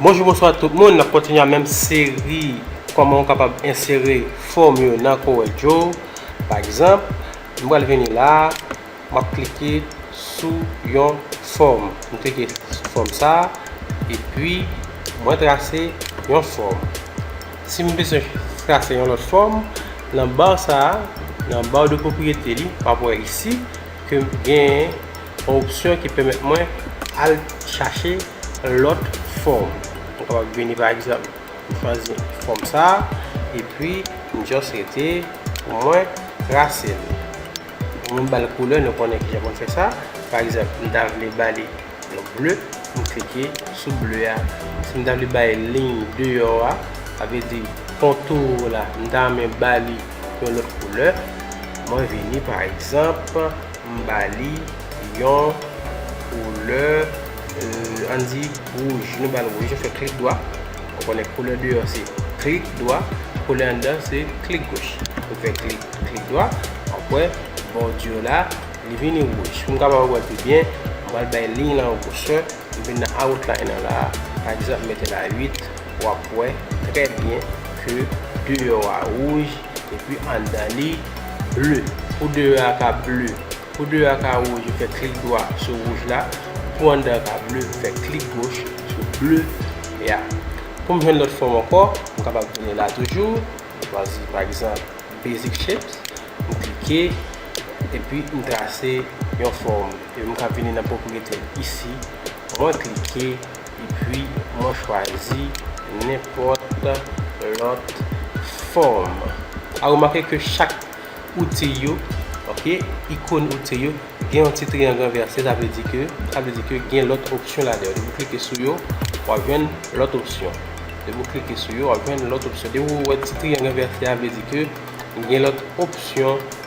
Bonjou bonswa tout moun nap kontinye a menm seri kòman ou kapab ensere fòm yo nan CorelDraw pa egzanp m pral vini la map klike sou yon fòm m klike sou fòm sa epi mwen trase yon fòm si m bezwen trase yon lòt fòm nan bar sa nan bar de pwopriyete li map wè isi ke m gen. Yon opsyon ki pèmèt mwen al chache lòt fòm. Mwen kapab vini pa egzanp, m chwazi fòm sa, epi m just rete pou mwen trase l. Ou m ba l koulè, nou konnen kijan pou n fè sa. Pa egzanp, m ta vle ba li yon ble, m klike sou ble a. Si m ta vle bay liy deyò a, sa vle di kontou la, m ta renmen ba li yon lòt koulè, mwen vini pa egzanp. M ba li yon koulè ann di wouj. Nou ba l wouj, nou fè klik dwa. Ou konnen koulè deyò se klik dwa, koulè anndan se klik goch. Nou fè klik, klik dwa, wap wè bò di yo la li vini wouj. Pou m kapab wè l pi byen, m pral bay liy lan yon gwosè. M vin nan outline lan la a, pa egzanp m mete la 8, wap wè trè byen ke deyò a wouj. Epi andan li ble. Pou deyò a ka ble. Pou deyò a ka wouj ou fè klik dwa sou wouj la. Pou andan ka ble ou fè klik goch sou ble a. Pou m jwenn lòt fòm ankò, m kapab tounen la toujou. M chwazi pa egzanp basic shapes. M klike epi m trase yon fòm. Epi m ka vini nan pwopriyete isi. Mwen klike. Epi mwen chwazi nenpòt lòt fòm. A remake ke chak outil yo, ok, ikon outil yo, gen yon ti triyang ranvèse, sa vle di ke, sa vle di ke gen lòt opsyon ladan yo. Depi ou klike sou yo, w ap jwenn lòt opsyon. Depi ou klike sou yo, w ap jwenn lòt opsyon. Depi ou wè ti triyang ranvèse a, vle di ke gen lòt opsyon.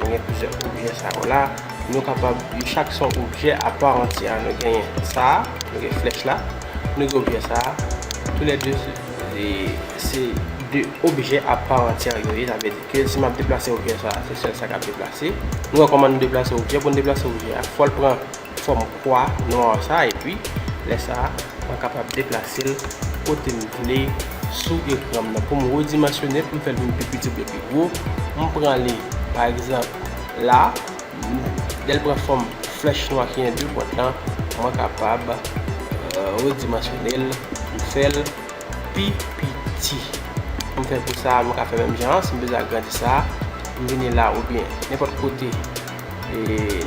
Nou gen plizyè objè sa yo la. Nou kapab, yo chak se yon objè aparantye a. Nou gen sa a, nou gen flèch la. Nou gen objè sa a. Tou lè 2 se 2 objè aparantye yo ye. Sa vle di ke si m ap deplase objè sa a, se sèl sa k ap deplase. Nou wè kòman nou deplase objè. Pou nou deplase objè a, fò l pran fòm kwa nwa sa epi lè sa mwen kapab deplase l kote m vle sou ekran m nan pou m redimansyone l pou m fè l vin pi piti oubyen pi gwo m pran li pa egzanp la lè l pran fòm flèch nwa ki gen 2 pwent lan mwen kapab redimansyone l pou m fè l pi piti pou m fè l pou sa mwen ka fè menm jan an si m bezwen agrandi sa m vini la oubyen nenpòt kote.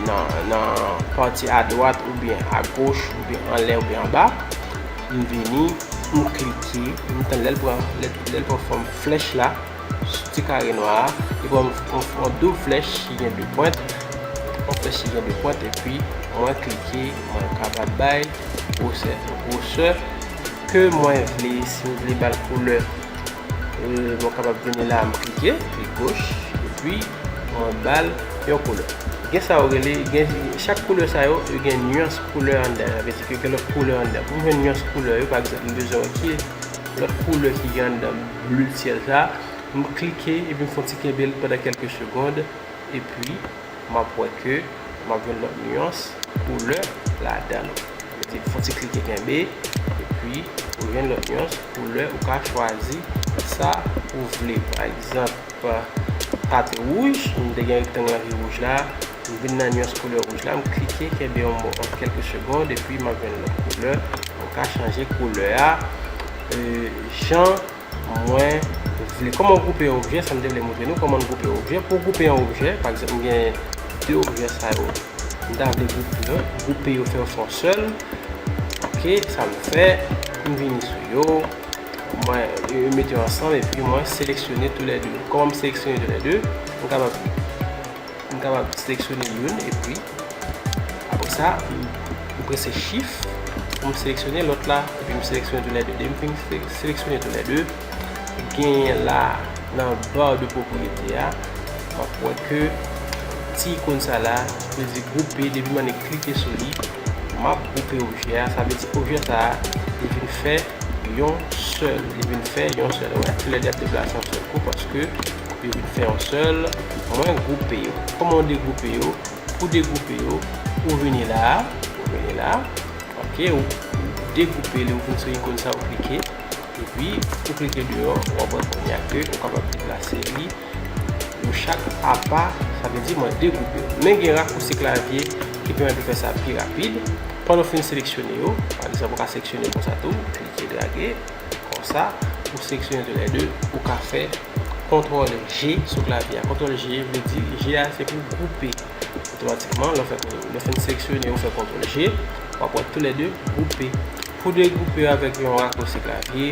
nan pati adwat oubyen agoch oubyen anlè oubyen anba m vini m klike m tann lèl pran lèl pran fòm flèch la sou ti kare nwa a li pran yon doub flèch ki gen 2 pwent yon flèch ki gen 2 pwent epi mwen klike mwen kapab bay gwosè gwosè ke mwen vle si m vle bal koulè mwen kapab vini la m klike klik goch epi Mwen bal yon koulè. Gen sa yo rele, gen chak koulè sa yo, yo gen nuans koulè anndan yo. Sa vle di ke gen lòt koulè anndan. Pou m jwenn nuans koulè yo, pa egzanp m bezwen wè ki lòt koulè ki gen anndan blu syèl sa a, m klike epi m fè yon ti kenbe l pandan kèlke segond epi m ap wè ke m ap jwenn lòt nuans koulè ladan l. Sa vle di fè yon ti klike kenbe epi ou jwenn lòt nuans koulè, ou ka chwazi sa ou vle. Pa egzanp. Pwa a te wouj, m te gen rektang la ki wouj la, m vin nan nuans koulè wouj la, m klike kenbe yon bon ant kelke segond epi map jwenn lòt koulè, mwen ka chanje koulè a jan mwen vle. Kòman gwoupe yon objè, sa m te vle moutre nou, kòman n gwoupe objè, pou w gwoupe yon objè, pa egzanp m gen 2 objè sa yo, m ta vle gwoupe yo fè yo fè yon sèl, ok, sa m fè, m vini sou yo. Mwen mete yo ansanm epi mwen seleksyone tou lè 2. Kòman m seleksyone tou lè 2? M kapab m kapab seleksyone youn epi apre sa m prese chif pou m seleksyone lòt la epi m seleksyone tou lè 2. Depi m fin seleksyone tou lè 2, genyen la nan bar de propriété a, m ap wè ke ti ikon sa la ki vle di groupe depi m annik klike sou li. M ap gwoupe objè a, sa vle di objè sa a li vin fè yon sèl, li vin fè yon sèl. Wè, toulède y ap deplase yon sèl kou paske yo vin fè yon sèl. Mwen gwoupe yo. Kòman ou degwoupe yo? Pou degwoupe yo, ou vini la a, ou vini la a, ok, ou degwoupe li, ou vin sou ikòn sa a, ou klike, epi ou klike deyò, w ap wè kounye a ke ou kapab deplase li. Yo chak apa, sa vle di mwen degoupe yo. Men gen rakousi klavye ki pèmèt ou fè sa pi rapid. Pandan ou fin seleksyone yo, pa egzanp ou ka seleksyone konsa tou, klike drage, konsa, ou seleksyone tou lè 2, ou ka fè kontrol G sou klavye a. Kontrol G vle di, G a se pou gwoupe. Otomatikman, lè ou fin seleksyone, ou fè kontrol G, w ap wè tou lè 2 gwoupe. Pou degoupe yo avèk yon rakousi klavye.